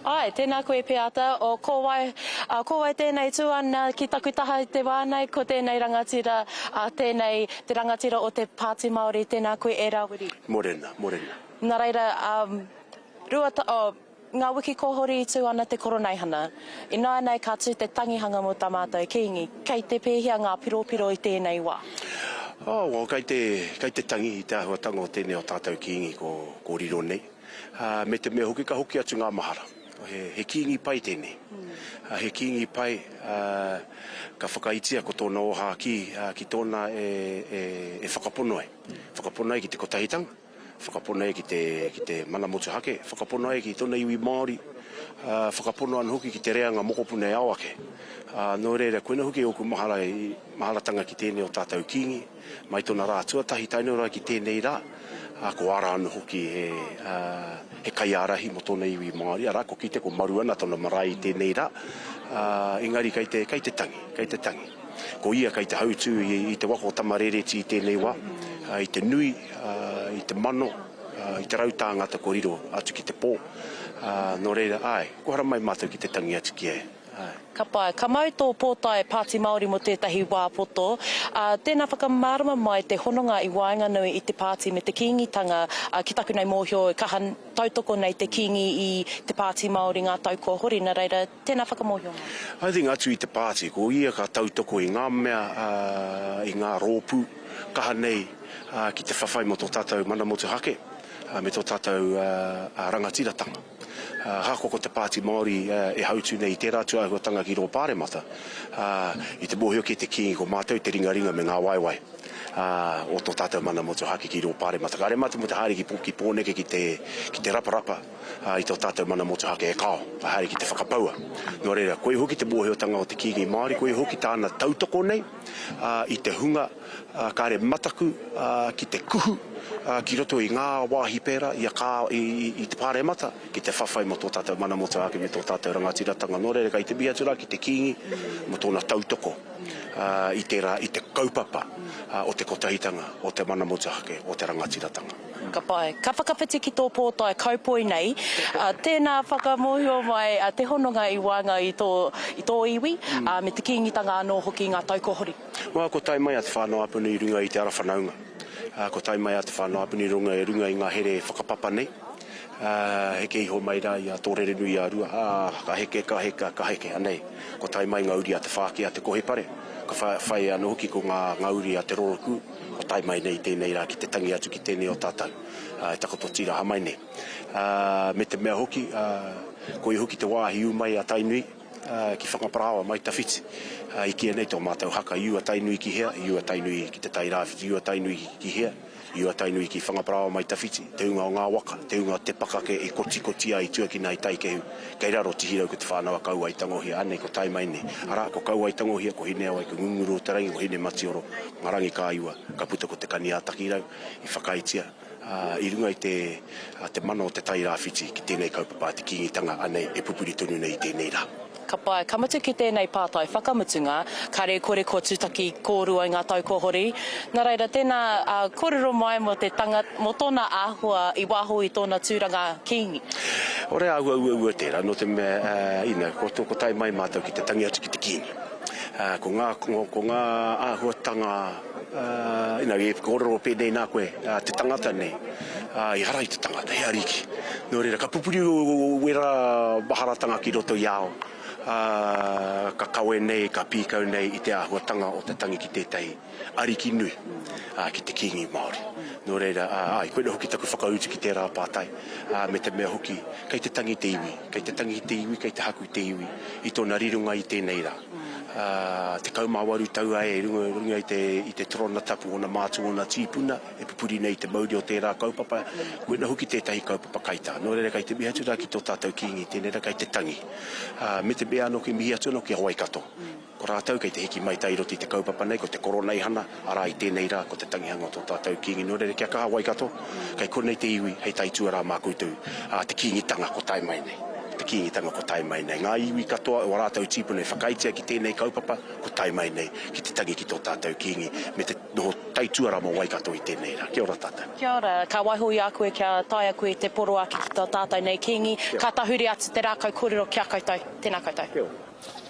Ae, tēnā koe Peata, o ko wai, a, ko wai tēnei tū ana ki taku taha i te wā nei, ko tēnei rangatira, a, tēnei te rangatira o te Pāti Māori, tēnā koe e Rāwiri. Morena, morena. Nā reira, a, rua ta, oh, ngā wiki kohori i tū ana te Koroneihana. Ināianei ka tū te tangihanga mō tā mātou Kīngi. Kei te pēhea ngā piropiro i tēnei wā? Oh, well, kei te, kei te tangi i te āhuatanga o tēnei o tātou Kīngi ko, ko riro nei. me te mea hoki ka hoki atu ngā mahara. He kīngi pai tēnei. He kīngi pai, ka whakaitia ko tōna ōhākī ki tōna e whakapono ai. Whakapono ai ki te kotahitanga, whakapono ai ki te mana motuhake, whakapono ai ki tōna iwi Māori, whakapono ana hoki ki te reanga mokopuna e ao ake. Nō reira, koinā hoki ōku mahara, maharatanga ki tēnei o tātou kīngi. Mai tona ra tuatahi taenau ra ki tenei ra, a ko ara ana hoki he kaiarahi mo tona iwi Maori, ara ko Kite, ko Maru ana tona marae i tenei ra, a engari kai te, kai te tangi, kai te tangi. Ko ia kai te hautu i te waka o Tamarereti i tenei wa, i te nui, i te mano, i te rau tāngata kua riro atu ki te po, no reira, ae, ko haramai matou ki te tangi atu ki a ia. Ka pai. Ka mau tō pōtae Pāti Māori mō tētahi wā poto, ā, tēnā whakamārama mai te hononga i waenganui i te Pāti me te Kīngitanga, ā, ki taku nei mōhio e kaha tautoko nei te Kīngi i te Pāti Māori ngā tau kua hori, nā reira, tēnā whakamōhio mai. I think atu i te Pāti, ko ia ka tautoko i ngā mea, ā, i ngā rōpū kaha nei, ā, ki te whawhai mō tō tātou mana motuhake, ā, me tō tātou, ā, rangatiratanga. Ahakoa ko te Pāti Māori e hautū nei i tērā atu āhuatanga ki rō Pāremata, i te mōhio ki te Kīngi ko mātou te ringaringa me ngā waewae o tō tātou mana motuhake ki rō Pāremata. Kāre mātou mō te haere ki Pōneke ki te raparapa i tō tātou mana motuhake e kao, te haere ki te whakapaua. Nō reira, koia hoki te mōhiotanga o te Kīngi Māori, koia hoki tāna tautoko nei i te hunga, Kāre mataku ki te kuhu ki roto i ngā wāhi pērā i te Pāremata ki te whawhai mō tō tātou mana motu ake me tō tātou rangatiratanga nō reira kei te mihi atu rā ki te Kīngi mō tōna tautoko i tērā, i te kaupapa o te kotahitanga o te mana motuhake o te rangatiratanga. Ka pai. Ka whakawhiti ki tō pōtae kaupoi nei. Tēnā whakamōhio mai te hononga i waenga i tō iwi, me te Kīngitanga anō hoki i ngā tau kua hori. Nā, kua tae mai a Te Whānau-a-Puni i runga i te ara whanaunga. Ā, kua tae mai a Te Whānau-a-Puni i runga i ngā here whakapapa nei. Ā, heke iho mai rā i a Tōrerenui-ā-Rua, ā, ka heke, ka heka, ka heke, anei. Kua tae mai ngā uri a Te Whāki, a Te Kohepare, ka whai anō hoki ko ngā, ngā uri a Te Rorokū, kua tae mai nei i tēnei rā ki te tangi atu ki tēnei o tātou, ā, e takoto tīraha mai nei. Ā, me te mea hoki, ā, koia hoki te wāhi ū mai a Tainui. ki Whanga-parāoa mai tawhiti, i kīia nei tō mātou haka i ua Tainui ki hea, i ua Tainui ki Te Tairāwhiti, i ua Tainui ki hea, i ua Tainui ki Whanga-parāoa mai tawhiti, te ūnga o ngā waka, te ūnga o te pakake i kotikoti ai, i tuakina ai taikehu, kei raro Tihirau ko Te Whānau-a-Kauai-tangohia, anei ko tae mai nei, arā, ko Kauai-tangohia, ko Hineawai, ko Ngunguru-o-te-rangi, ko Hinematioro, ngā rangi kāiua, ka puta ko Te Kani-ā-Takirau, i whakaaetia. i runga i te mana o te Tairāwhiti ki tēnei kaupapa a te Kīngitanga anei e pupuri tonu nei i tēnei rā. Ka pai, ka mutu ki tēnei pātai whakamutunga, kare kore kua tutaki kōrua i ngā tau kua hori. Nā reira, tēnā kōrero mai mō te tanga, mō tōna āhua i waho i tōna tūranga Kīngi. Ore āhua uaua tērā, nō te mea, you know, ko tae mai mātou ki te tangi atu ki te Kīngi. Ko ngā, ko ngā āhuatanga. Ina i korero penei na koe, te tangata nei, ehara i te tangata, he ariki. No reira, ka pupuri wera maharatanga ki roto i a au, ka kawe nei, ka pikau nei i te ahuatanga o te tangi ki tetahi ariki nui, ki te kingi Maori. No reira, ai, koinei hoki taku whakautu ki tera patai, me te mea hoki, kei te tangi te iwi, kei te tangi te iwi, kei te haku te iwi i tona rironga i tenei ra. Tekau mā waru tau ai i runga i te torona tapu ōna mātua, ōna tīpuna e pupuri nei i te mauri o tērā kaupapa, koina hoki tētahi kaupapa kaitā. Nō reira kei te mihi atu rā ki tō tātou Kīngi, tēnei rā kei te tangi. Me te mea anō kei mihi atu anō ki a Waikato, ko rātou kei te hiki mai tahi i roto i te kaupapa nei, ko te Koroneihana, Arā, i tēnei rā, ko te tangihanga o tō tātou Kīngi nō reira ki a Kaha Waikato, kei konei te iwi hei taituarā mā koutou, ā, te Kīngitanga kua tae mai nei, te Kīngitanga kua tae mai nei. Ngā iwi katoa o ā rātou tīpuna i whakaaetia ki tēnei kaupapa kua tae mai nei ki te tangi ki tō tātou Kīngi me te noho taituarā mō Waikato i tēnei rā. Kia ora tātou. Kia ora, ka waiho i a koe kia tae a koe te poroaki ki tō tātou nei Kīngi, ka tahuri atu te rākau kōrero ki a koutou. Tēnā koutou. Kia ora.